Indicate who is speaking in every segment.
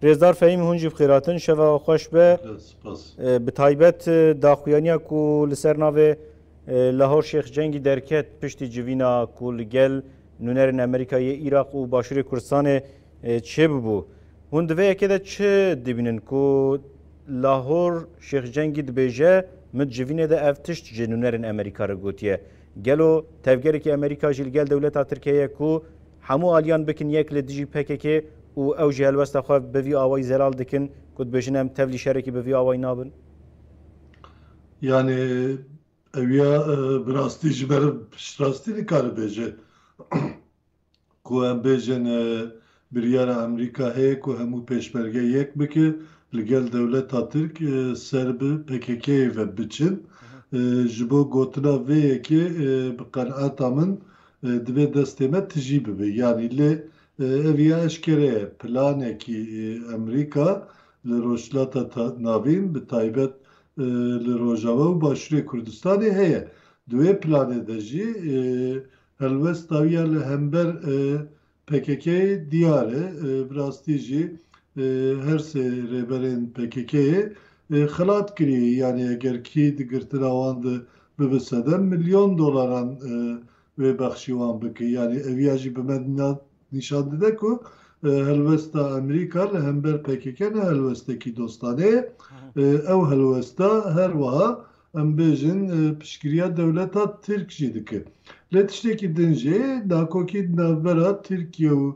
Speaker 1: Rêzdar Fehîm hûn jî bixêratin şeva xweş be. Bi taybet daxuyaniya ku li ser navê Lahor Şêx Cengî derket piştî civîna ku li gel nûnerên Amerîka yê Îraq û Başûrê Kurdistanê çêbûbû. Hûn di vê yekê de çi dibînin ku Lahor Şêx Cengî dibêje min civînê de ev tişt ji nûnerên Amerîka re gotiye. Gelo tevgerekî Amerîka jî li gel dewleta Tirkiyeyê ye ku Hemû aliyan bikin yek li dijî PKK'ê û ew jî helwesta xwe bi vî awayî zelal dikin ku dibêjin em tevlî şerekî bi vî awayî nabin. Yanî ew ya bi rastî ji ber piştrastî nikare bêje ku em bêjin biryara Amerîka heye ku hemû pêşmerge yek bike li gel dewleta Tirk ser bi PKK'ê ve biçin. Ji bo gotina vê yekê bi qenaeta min Divê destê me tijî bibe. Yanî lê ev ya eşkere ye. Planekî Amerîka li Rojhilata Navîn bi taybet li Rojava û Başûrê Kurdistanê heye. Di wê planê de jî helwesta wî ya li hember PKK'ê diyar e, bi rastî jî her sê rêberên PKK'ê xelat kirî, yanî eger kî di girtina wan de bibe sedem milyon dolaran wê bexşî wan bike. Yanî ev ya jî bi me nîşan dide ku helwesta Amerîka li hember PKK ne helwestekî dostanê ye. Ew helwesta her wiha Em bêjin piştgiriya dewleta Tirk jî dike. Lê tiştekî din jî dakokî di navbera Tirkiye û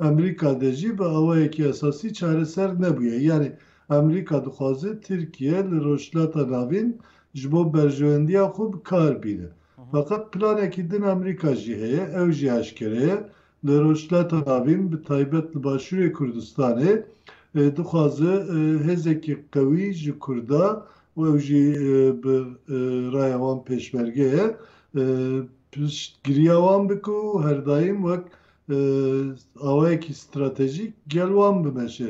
Speaker 1: Amerîka de jî bi awayekî esasî çareser nebûye. Yanî Amerîka dixwaze Tirkiye li Rojhilata Navîn ji bo berjewendiya xwe bi kar bîne. Feqet planekî din Amerîka jî heye, ew jî eşkere ye, Li Rojhilata Navîn bi taybet li Başûrê Kurdistanê dixwaze hêzekî qewî ji Kurda û ew jî bi raya wan pêşmerge ye piştgiriya wan bike û herdaîm wek awayekî stratejîk gel wan bimeşe.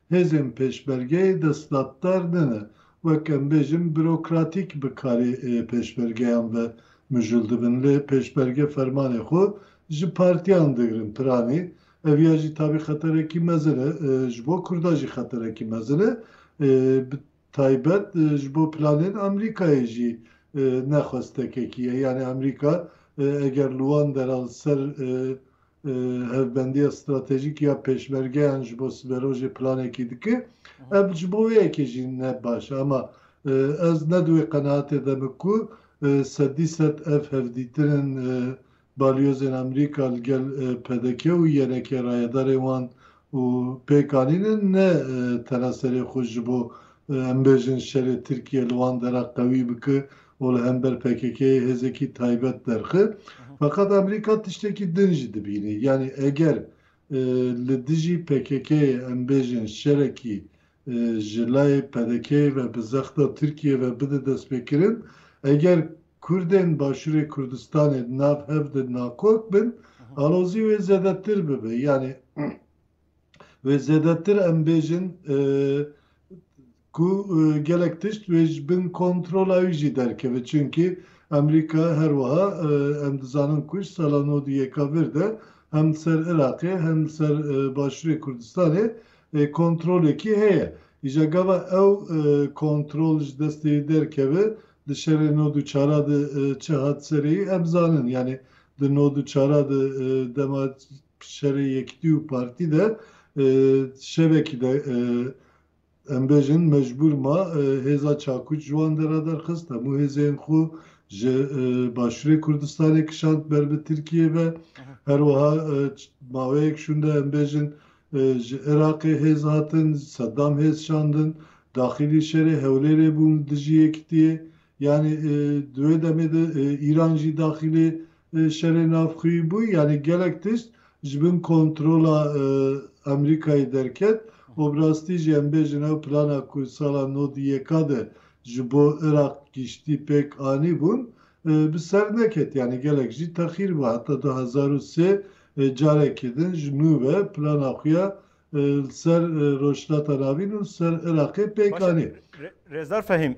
Speaker 1: Hêzên pêşbergeyê destdatdar nene wek em bêjin bürokratîk bi karê pêşbergeyan ve mijul dibin lê pêşberge fermanê xwe ji partiyan digrin piranî ev ya jî tabî xeterekî mezin e ji bo kurda jî xeterekî mezin e bi taybet ji bo planên Amerîkayê jî ne xwestekekî ye yanî Amerîka eger li wan dera li ser hevbendiya stratejîk ya pêşmergeyan ji bo siberojê planekî dike. Ev ji bo vê yekê jî ne baş e. Ama ez ne di wê qenaatê de me ku sedî sed ev hevdîtinên balyozên Amerîka li gel PDK û yenekê rayedarên wan Û pêkanîne ne tena serê xwe ji bo em bêjin şerê Tirkiye li wan dera qewî bike û li hember PKK'ê hêzekî taybet derxe. Feqet Amerîka tiştekî din jî dibîne. Yanî eger li dijî PKK'ê em bêjin şerekî ji layê PDK'ê ve bi zexta Tirkiyê ve bide destpêkirin, eger Kurdên Başûrê Kurdistanê di nav hev de nakok bin, alozî wê zêdetir bibe. Yanî wê zêdetir em bêjin ku gelek tişt wê ji bin kontrola wî jî derkeve. Çimkî Amerîka her wiha em dizanin ku ji sala nod û yeka vir de hem li ser Iraqê hem li ser Başûrê Kurdistanê Kontrolekî heye. Îja gava ew kontrol ji destê yî derkeve, di şerê nod û çara de çi hat serê yî em zanin. Yanî di nod û çara de dema şerê Yekîtî û Partî de şevekî de em bêjin mecbûr ma hêza çakûç ji wan dera derxist, hemû hêzên xwe ji Başûrê Kurdistanê kişand ber bi Tirkiyê ve. Her wiha maweyek şûnde em bêjin Ji Iraqê hêz hatin, Sedam hêz şandin, daxilî şerê Hewlêrê bû dijî yekîtiyê. Yanî di wê demê de Îran jî daxilê şerê navxwî bû. Yanî gelek tişt ji bin kontrola Amerîkayê derket û bi rastî jî em bêjin ew plana ku sala nod û yeka de ji bo Iraq giştî pêk anîbûn Bi ser neket yanî gelek jî texîr bû heta du hezar û sê carekê din ji nû ve plana xwe ya li ser Rojhilata Navîn û li ser Iraqê pêk anî. Rêzdar Fehîm,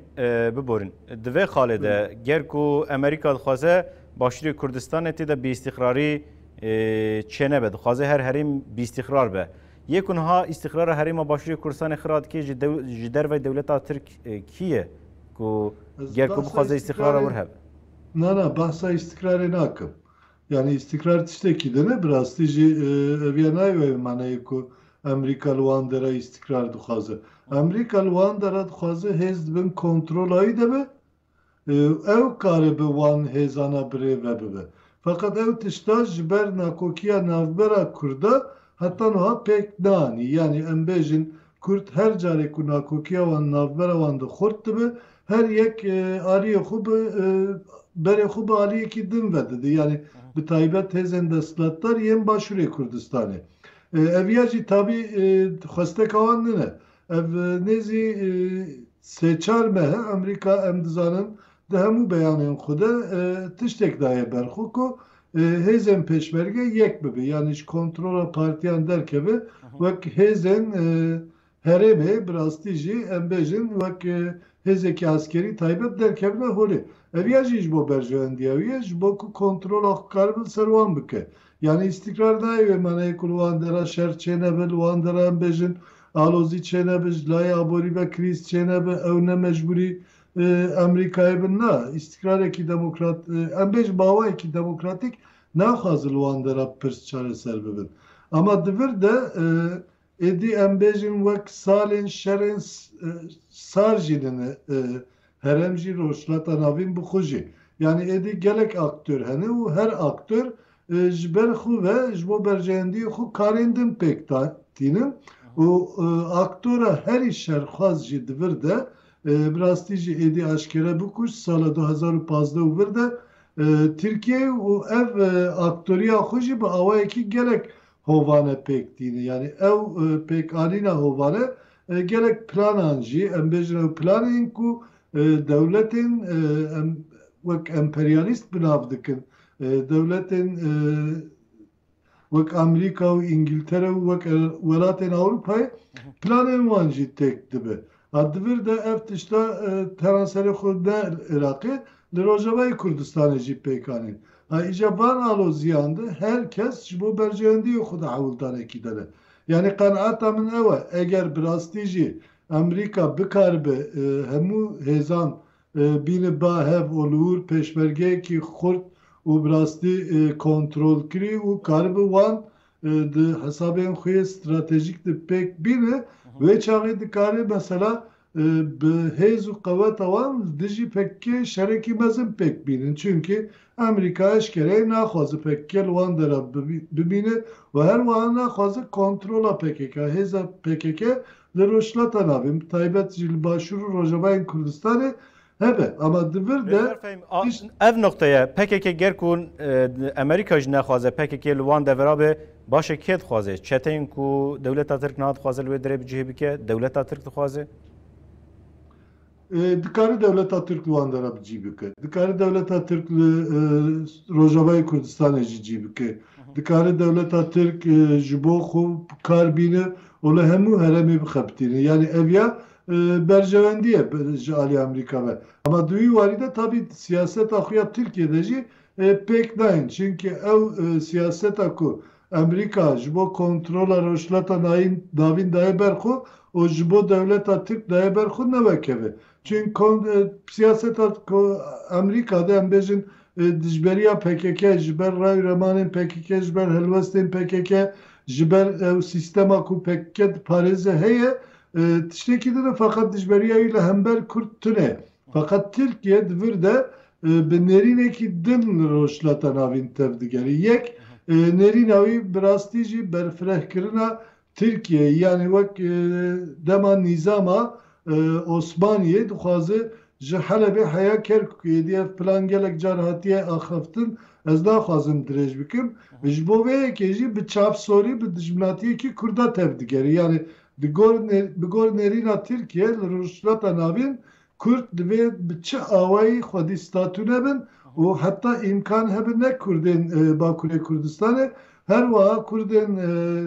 Speaker 1: biborîn. Di vê xalê de ger ku Amerîka dixwaze Başûrê Kurdistanê tê de bîîstîqrarî çênebe, dixwaze her herêm bîîstîqrar be. Yê ku niha îstîqrara herêma Başûrê Kurdistanê xira dike ji dervey dewleta Tirk kî ye? Ku ger ku bixwaze îstîqrara wir hebe. Na na behsa îstîqrarê nakim. Yanî îstîqrar tiştekî din e, bi rastî jî ev ya nayê wê maneyê ku Amerîka li wan dera îstîqrar dixwaze. Amerîka li wan dera dixwaze hêz di bin kontrola wî de be û ew karibe wan hêzana birêve bibe. Feqet ew tişta ji ber nakokiya navbera Kurda heta nuha pêk nanî. Yanî em bêjin Kurd her carê ku nakokiya wan navbera wan de xurt dibe her yek aliyê xwe bi berê xwe bi aliyekî din vedide. Yanî bi taybet hêzên desthilatdar yên Başûrê Kurdistanê. Ev ya jî tabî xwesteka wan nine. Ev nêzî sê çar mehe Amerîka em dizanin Di hemû beyanên xwe de tiştek daye ber xwe ku hêzên pêşmerge yek bibe yanî ji kontrola partiyan derkeve wek hêzên herêmê bi rastî jî em bêjin wek hêzekî eskerî taybet derkevine holê. Ev ya jî ji bo berjewendiya wî ye ji bo ku kontrola xwe karibin li ser wan bike. Yanî îstîkrar nayê wê manayê ku li wan dera şer çênebe, li wan dera em bêjin alozî çênebe, ji layê aborî ve krîz çênebe, ew ne mecbûrî Amerîkayê bi na, îstîkrarekî demokrat, em bêjin bawayekî demokratîk naxwaze li wan dera pirs çareser bibin. Ama di vir de êdî em bêjin wek salên şerên sar jî nene, herem jî, Rojhilata Navîn bi xwe jî. Yanî êdî gelek aktör hene û her aktör Ji ber xwe ve ji bo berjeyendiyê xwe karên din pêk da tînin û aktora herî şerxwaz jî di vir de bi rastî jî êdî aşkere bû ku ji sala du hezar û pazdeh û vir de Tirkiyeyê û ev aktoriya xwe jî bi awayekî gelek hovane pêk tînin. Yanî ew pêkanîna hovane gelek planan jî em bêjin ew planê in ku dewletên em wek emperyalîst bi nav dikin Dewletên wek Amerîka û Îngîltere û wek welatên Ewropayê planên wan jî têk dibe. A di vir de ev tişta tena serê xwe ne li Iraqê, li Rojavayê Kurdistanê jî pêk anîn. A îcar van aloziyan de her kes ji bo berjeyendiyê xwe di hewldanekî de be. Yanî qenaeta min ew e, eger bi rastî jî Amerîka bikaribe hemû hêzan Bîne ba hev û li wir pêşmergeyekî xurt û bi rastî kontrolkirî û karibe wan di hesabên xwe yê stratejîk de pêk bîne, wê çaxê dikarê mesela bi hêz û qeweta wan li dijî pkk şerekî mezin pêk bînin. Çimkî Amerîka eşkereyê naxwaze pkk li wan dera bimîne û her wiha naxwaze kontrola pkk, hêza pkk Li Rojhilata Navê bi taybet jî li Başûr û Rojavayên Kurdistanê hebe ama di vir de tişt. Ev nuqte ye. Pkk ger ku Amerîka jî nexwaze pkk li wan devera be baş e kê dixwaze? Çeteyên ku dewleta Tirk niha dixwaze li wê derê bi cihê bike dewleta Tirk dixwaze? Dikare dewleta Tirk li wan de re bi cî bike. Dikare dewleta Tirk li Rojavayê Kurdistanê jî cî bike. Dikare dewleta Tirk ji bo xwe bi kar bîne û li hemû heremê bixebitîne. Yanî ev ya berjewendî ye ji aliyê Amerîka ve. Hema di wî warî de tabî siyaseta xwe ya Tirkiyê de jî pêk nayên. Çimkî ew siyaseta ku Amerîka ji bo kontrola Rojhilata Navîn daye ber xwe û ji bo dewleta Tirk daye ber xwe ne wek ev e. Çün siyaseta Amerîka de em bêjin dijberiya pkk ji ber rewremanên pkk, ji ber helwestên pkk, ji ber ew sîstema ku pkk diparêze heye, tiştekî din e, feqet dijberiya wî li hember Kurd tune ye. Feqet Tirkiye di vir de bi nêrînekî din li Rojhilata Navîn tev digerî. Yek, nêrîna wî bi rastî jî berfirehkirina Tirkiyeyê yanî wek dema nîzama Osmaniyê dixwaze ji Helebê heya Kerkûkê êdî. Ev plan gelek car hatiye axaftin, ez naxwazim dirêj bikim. Ji bo vê yekê jî bi çavsorî bi dijminatiyekî Kurda tev digerî. Yanî Bi gor nêrîna Tirkiyê li Rojhilata Navîn, Kurd divê bi çi awayî xwedî statûne bin û heta îmkan hebin ne Kurdên Bakurê Kurdistanê, her wiha Kurdên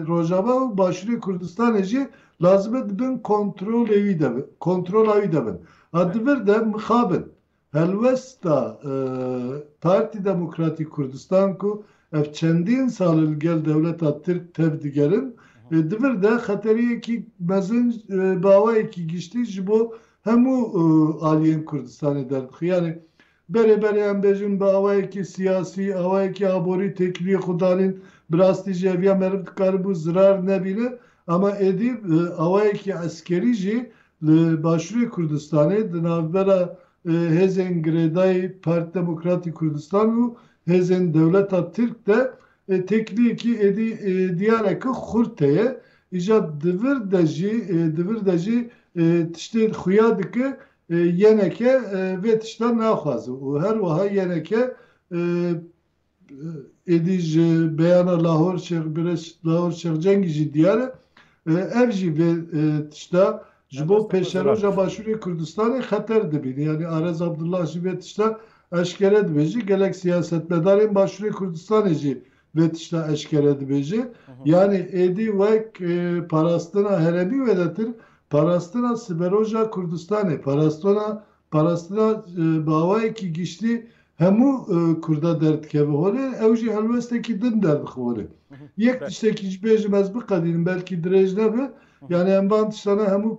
Speaker 1: Rojava û Başûrê Kurdistanê jî lazim e di bin kontrolê wî de bin. Kontrola wî de bin. A di vir de mixabin. Helwesta Partî Demokratîk Kurdistan ku ev çendîn sal e li gel dewleta Tirk tev digerin, di vir de xeteriyekî mezin bi awayekî giştî ji bo hemû aliyên Kurdistanê derdixî. Yanî berê berê em bêjin bi awayekî siyasî, awayekî aborî têkiliyê xwe danîn. Bi rastî jî ev ya meriv dikaribû zirar nebîne. Ama êdî bi awayekî eskerî jî li Başûrê Kurdistanê di navbera hêzên girêdayî Parti Demokratî Kurdistan û hêzên dewleta Tirk de têkiliyekî êdî diyareke xurt heye. Îja di vir de jî di vir de jî tiştê xuya dike yeneke vê tiştan naxwaze û her wiha yeneke Êdî ji beyana Lahor Şêx Birêç Lahor Şêx Cengî jî diyar e. Ev jî vê tişta ji bo pêşeroja Başûrê Kurdistanê xeter dibîne. Yanî Arez Abdullah jî vê tişta eşkere dibêje. Gelek siyasetmedarên Başûrê Kurdistanê jî vê tişta eşkere dibêje. Yanî êdî wek parastina heremî wêdetir parastina siberoja Kurdistanê, parastina Parastina bi awayekî giştî hemû Kurda derdikeve holê, ew jî helwestekî din derdixin holê. Yek tiştekî jî bêjim ez biqedînim belkî dirêj nebe, yanî em van tiştane hemû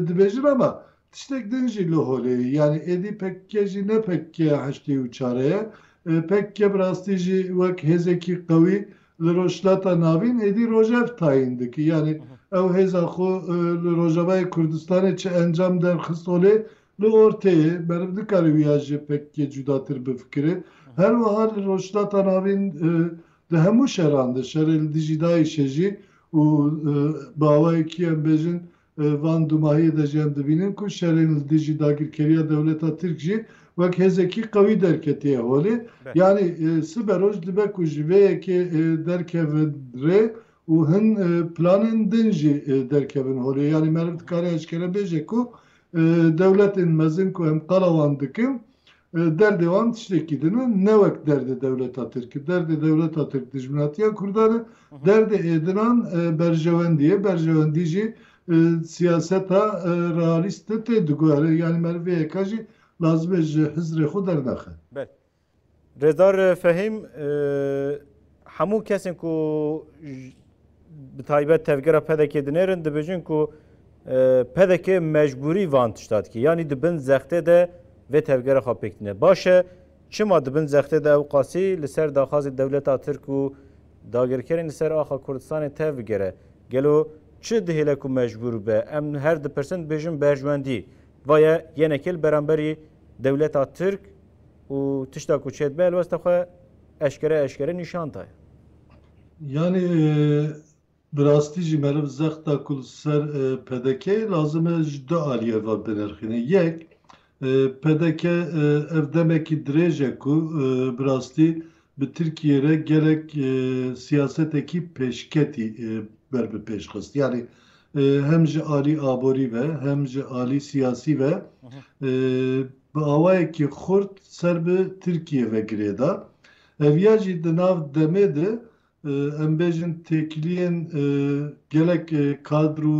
Speaker 1: dibêjin ama tiştek din jî li holê ye. Yanî êdî pkk jî ne pkk ya heştê û çare ye. Pkk bi rastî jî wek hêzekî qewî Li Rojhilata Navîn êdî rojev tayîn dike. Yanî ew hêza xwe li Rojavayê Kurdistanê çi encam derxist olê li orteyê, meriv nikare wî ya ji PKK'ê cudatir bifikire. Her wiha li Rojhilata Navîn di hemû şeran de, şerê li dijî DAIŞ'ê jî û bi awayekî em bêjin Van dûmahiyê de jî em dibînin ku şerên li dijî dagirkeriya dewleta Tirk jî wek hêzekî qewî derketiye holê. Yanî sibe roj dibe ku ji vê yekê derkevin rê û hin planên din jî derkevin holê. Yanî meriv dikare eşkere bêje ku dewletên mezin ku em qala wan dikin Derdê wan tiştekî din e, ne wek derdê dewleta Tirk e. Derdê dewleta Tirk dijminatiya Kurdan e, derdê êdinan berjewendî ye, berjewendî jî siyaseta realîst de tê diguhere. Yanî meriv vê yeka jî lazim e ji hizrê xwe dernexe. Belê. Rêzdar Fehîm, Hemû kesên ku bi taybet tevgera PDK'ê dinêrin dibêjin ku PDK mecbûrî van tişta dike. Yanî di bin zextê de vê tevgera xwe pêk dine. Baş e çima di bin zextê de ew qasî li ser daxwazê dewleta Tirk û dagirkerên li ser axa Kurdistanê tev bigere? Gelo çi dihêle ku mecbûr be? Em her dipirsin dibêjin berjwendî. Vaye yenekê li beramberî dewleta Tirk û tişta ku çêdibe helwesta xwe Eşkere eşkere nîşan daye. Yanî bi rastî jî meriv zexta ku li ser PDK'ê lazim e ji du aliyê ve binirxîne. Yek, pdk ev demekî dirêj e ku bi rastî bi Tirkiyeyê re gelek siyasetekî pêşketî ber bi pêş xist. Yanî hem ji alî aborî ve hem ji alî siyasî ve bi awayekî xurt ser bi Tirkiyê ve girê da. Ev ya jî di nav demê de em bêjin têkiliyên gelek kadr û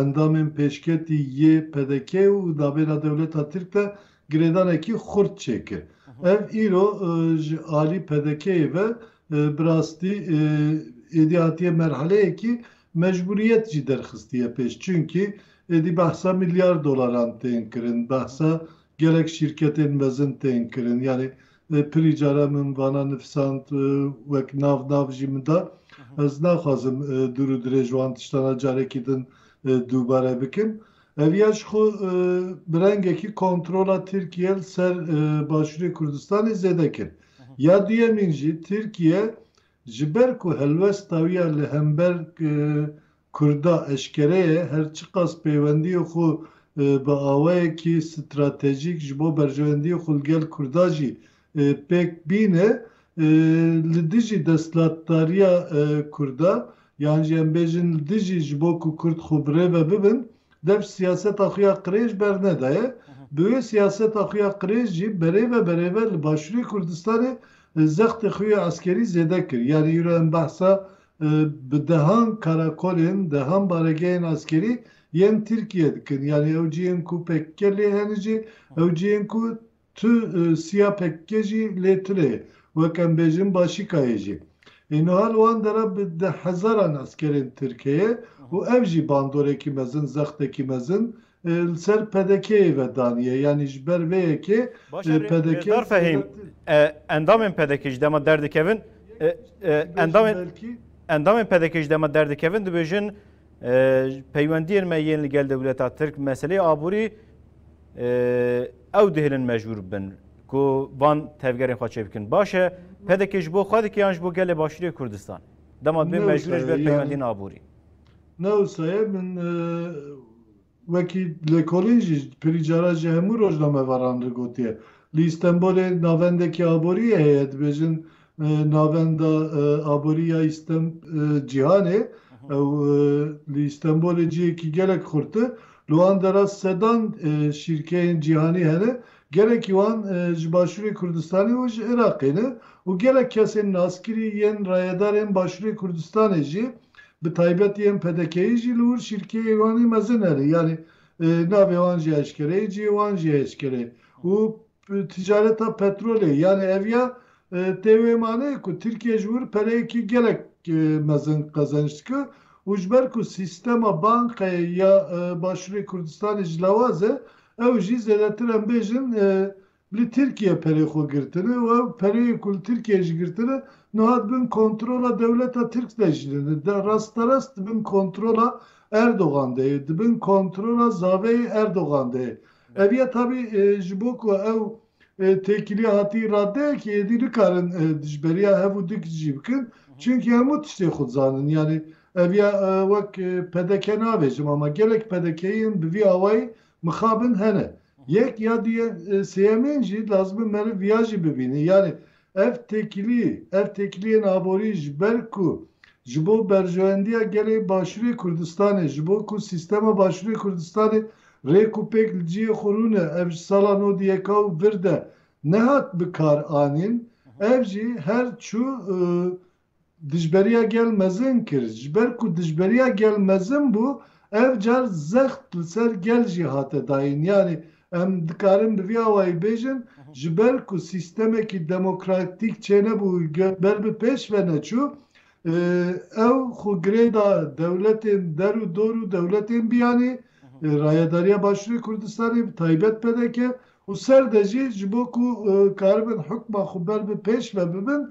Speaker 1: endamên pêşketî yê PDK'ê û dabêna dewleta Tirk de girêdanekî xurt çêkir. Ev îro ji alî PDK'ê ve bi rastî êdî hatiye merheleyekî Mecbûriyet jî derxistiye pêş çunkî êdî behsa milyar dolaran tên kirin, behsa gelek şîrketên mezin tên kirin. Yanî pirî caran min vana nifisand wek nav nav jî min da. Ez naxwazim dûr û dirêj wan tiştana carekî din dûbare bikim. Ev ya ji xwe bi rengekî kontrola Tirkiyê li ser Başûrê Kurdistanê zêde kir. Ya duyemîn jî Tirkiye Ji ber ku helwesta wî ya li hember Kurda eşkere ye, her çiqas peywendiyê xwe bi awayekî stratejîk ji bo berjewendiyê xwe li gel Kurda jî pêk bîne, li dijî destlatdariya Kurda yan jî em bêjin li dijî ji bo ku Kurd xwe bi rê ve bibin, dev siyaseta xwe ya qirêj bernedaye. Bi wê siyaseta xwe ya qirêj jî berêve berêve li Başûrê Kurdistanê Zextê xwe yê eskerî zêde kir. Yanî îro em behsa bi dehan karakolên, dehan baregehên eskerî yên Tirkiyê dikin. Yanî ew cihên ku pkk lê hene jî, ew cihên ku tu siya pkk jî lê tune ye. Wek em bêjin Başîkayê jî. Ê nuha li wan dera bi deh hezaran eskerên Tirk heye û ev jî bandorekî mezin, zextekî mezin Li ser PDK'yê ve daniye yanî ji ber vê yekê PDK Endamên PDK ji dema derdikevin Endamên PDK ji dema derdikevin dibêjin peywendiyên me yên li gel dewleta Tirk meseleyê aborî ew dihêlin mecbûr bibin ku van tevgerên xwe çêbikin. Baş e PDK ji bo xwe dike yan ji bo gelê Başûrê Kurdistan? Dema dibê mecbûr ji ber peywendiyên aborî. Ne wisa ye, min wekî lêkolîn jî pirî caran ji hemû rojnamevaran re gotiye. Li Îstenbolê navendekî aboriyê heye, dibêjin navenda aborî ya cîhanê. Ew li Îstenbolê cihekî gelek xurt e. Li wan dera sedan şîrkeyên cîhanî hene. Gelekî wan ji Başûrê Kurdistanê û ji Iraqê ne û gelek kesên naskirî yên rayedarên Başûrê Kurdistanê jî Bi taybet yên PDK'yî jî li wir şîrkeyê Wanê mezin erê. Yanî navê wan jî eşkere ye, cihê wan jî eşkere ye û ticareta petrolê yanî ev ya tê wê maneyê ku Tirkiye ji wir pereyekî gelek mezin qezenç dike û ji ber ku sîstema bankayê ya Başûrê Kurdistanê jilawaz e ew jî zêdetir em bêjin Li Tirkiye perê xwe girtine û ev pereyê ku li Tirkiyeyê jî girtine niha di bin kontrola dewleta Tirk de jî ne, rasterast di bin kontrola Erdogan de ye, di bin kontrola zaveyê Erdogan de ye. Ev ye tabî ji bo ku ew têkiliya hatî raddeyekê êdî nikarin dijberiya hev û dik jî bikin çimkî hemû tiştê xwe dizanin. Yanî ev ye wek pdk navêjim ama gelek pdkiyên bi vî awayî mixabin hene. Yek ya du yên sêyemên jî lazim e meriv viya jî bibîne. Yanî ev têkilî, ev têkiliyên aborî ji ber ku ji bo berjewendiya gelê Başûrê Kurdistanê, ji bo ku sîstema Başûrê Kurdistanê rêk û pêk li cihê xwe rûne, ev ji sala nod û yeka û vir de nehat bi kar anîn, ev jî her çû dijberiya gel mezin kir. Ji ber ku dijberiya gel mezin bû, ev car zext li ser gel jî hate dayîn. Yanî em dikarin bi vî awayî bêjin, ji ber ku sîstemekî demokratîk çênebû û ber bi pêş ve neçû, ew xwe girê da dewletên der û dor û dewletên biyanî, rayedariya Başûrê Kurdistanê bi taybet pdk Û ser de jî ji bo ku karibin hukma xwe ber bi pêş ve bibin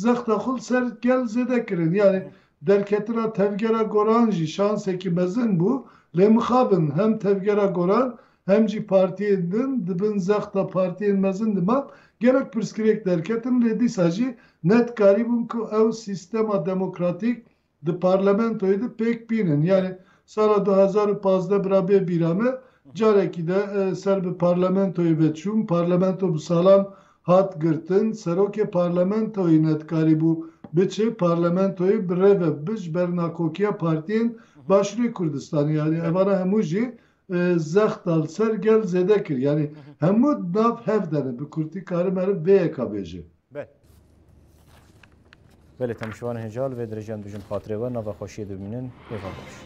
Speaker 1: zexta xwe li ser gel zêde kirin. Yanî derketina tevgera Goran jî şansekî mezin bû. Lê mixabin hem tevgera Goran hem jî partiyên din di bin zexta partiyên mezin de man. Gelek pirsgirêk derketin lê dîsa jî ne dikarîbûn ku ew sîstema demokratîk Di parlamentoyê de pêk pîn in. Yanî sala du hezar û pazdeh bira bê bîra me carekî de ser bi parlamentoyê ve çûm. Parlamento bi salan hat girtin. Serokê parlamentoyê nedikarîbû biçe parlamentoyê bi rê ve bibe ji ber nakokiya partiyên Başûrê Kurdistanê. Yanî evana hemû jî Zext da li ser gel zêde kir. Yanî hemû di nav hev de ne. Bi kurtî karim meriv vê yeka bêjim. Belê. Belê te min şivan hêja li vê derejan bijim xatirê we nava xweşiyê de bimînin. Hêva baş.